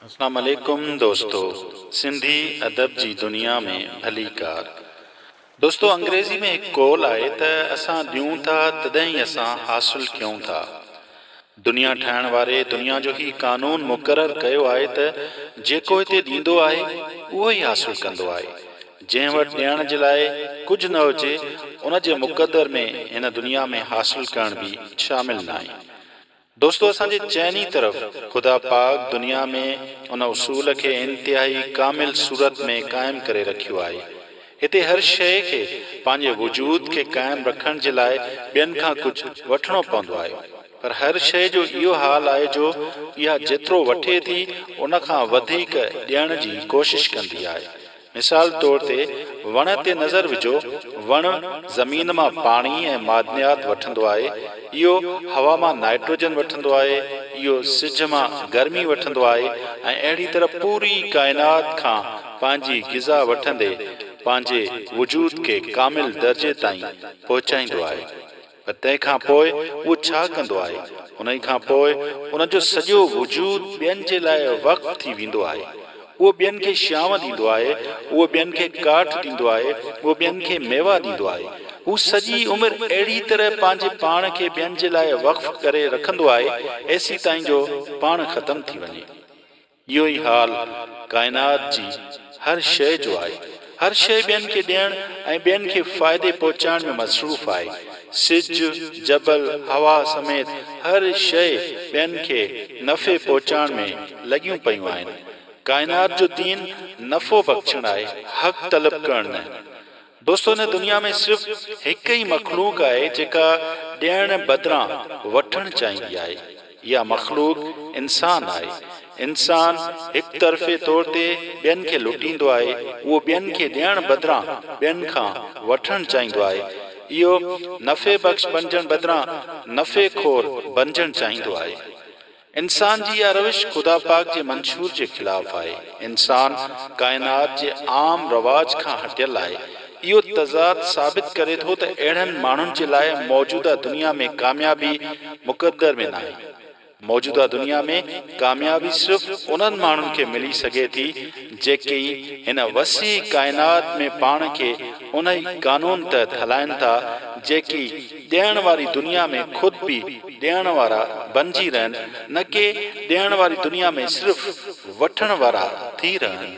اسلام عليڪم دوستو سنڌي ادب جي دنيا ۾ ڀليڪار دوستو انگريزي ۾ هڪ قول آهي ته اسان ڏيون ٿا تڏهن ئي اسان حاصل ڪيون ٿا دنيا ٺاهڻ واري دنيا جو هي قانون مقرر ڪيو آهي ته جيڪو هتي ڏيندو آهي اهو ئي حاصل ڪندو آهي جنهن وٽ ڏيڻ جي لاء ڪجهه نه هجي ان جي مقدر ۾ هن دنيا ۾ حاصل ڪرڻ به شامل ناهي دوستو اسان جي چئني طرف خدا پاڪ دنيا ۾ ان اصول کي انتهائي ڪامل صورت ۾ قائم ڪري رکيو آهي. هتي هر شيء کي پنهنجي وجود کي قائم رکڻ جي لاء ٻين کان ڪجهه وٺڻو پوندو آهي پر هر شيء جو اهو حال آهي جو اها جيترو وٺي ٿي ان کان وڌيڪ ڏيڻ جي ڪوشش ڪندي آهي مثال طور تي وڻ تي نظر وجهو، وڻ زمين مان پاڻي ۽ معدنيات وٺندو آهي، اهو هوا مان نائٽروجن وٺندو آهي، اهو سج مان گرمي وٺندو آهي ۽ اهڙي طرح پوري ڪائنات کان پنهنجي غذا وٺندي پنهنجي وجود کي ڪامل درجي تائين پهچائيندو آهي. پر تنهن کان پوء اهو ڇا ڪندو آهي؟ انهيء کان پوء ان جو سڄو وجود ٻين جي لاء وقف ٿي ويندو آهي. اهو ٻين کي شيائون ڏيندو آهي، اهو ٻين کي ڪاٺ ڏيندو آهي، اهو ٻين کي ميوا ڏيندو آهي. هو سڄي عمر اهڙيء طرح پنهنجي پاڻ کي ٻين جي لاء وقف ڪري رکندو آهي، ايسيتائين جو پاڻ ختم ٿي وڃي. اهو ئي حال ڪائنات جي هر شيء جو آهي. هر شيء ٻين کي ڏيڻ ۽ ٻين کي فائدي پهچائڻ ۾ مصروف آهي. سج، جبل، هوا سميت هر شيء ٻين کي نفعي پهچائڻ ۾ لڳيون پيون آهن. ڪائنات جو دين نفعو بخشڻ آهي، حق طلب ڪرڻ نه. دوستو هن دنيا ۾ صرف هڪ ئي مخلوق آهي جيڪا ڏيڻ بدران وٺڻ چاهيندي آهي اها مخلوق انسان آهي انسان هڪ طرفي طور تي ٻين کي لٽيندو آهي اهو ٻين کي ڏيڻ بدران ٻين کان وٺڻ چاهيندو آهي اهو نفعي بخش بنجڻ بدران نفعي خور بنجڻ چاهيندو آهي انسان جي اها روش خدا پاڪ جي منشور جي خلاف آهي. انسان ڪائنات جي عام رواج کان هٽيل آهي. اهو تضاد ثابت ڪري ٿو ته اهڙن ماڻهن جي لاء موجوده دنيا ۾ ڪاميابي مقدر ۾ ناهي. موجوده دنيا ۾ ڪاميابي صرف انهن ماڻهن کي ملي سگهي ٿي جيڪي هن وسيع ڪائنات ۾ پاڻ کي انهي قانون تحت هلائين ٿا جيڪي ڏيڻ واري دنيا ۾ خود به ڏيڻ وارا بنجي رهن نه ڪي ڏيڻ واري دنيا ۾ صرف وٺڻ وارا ٿي رهن.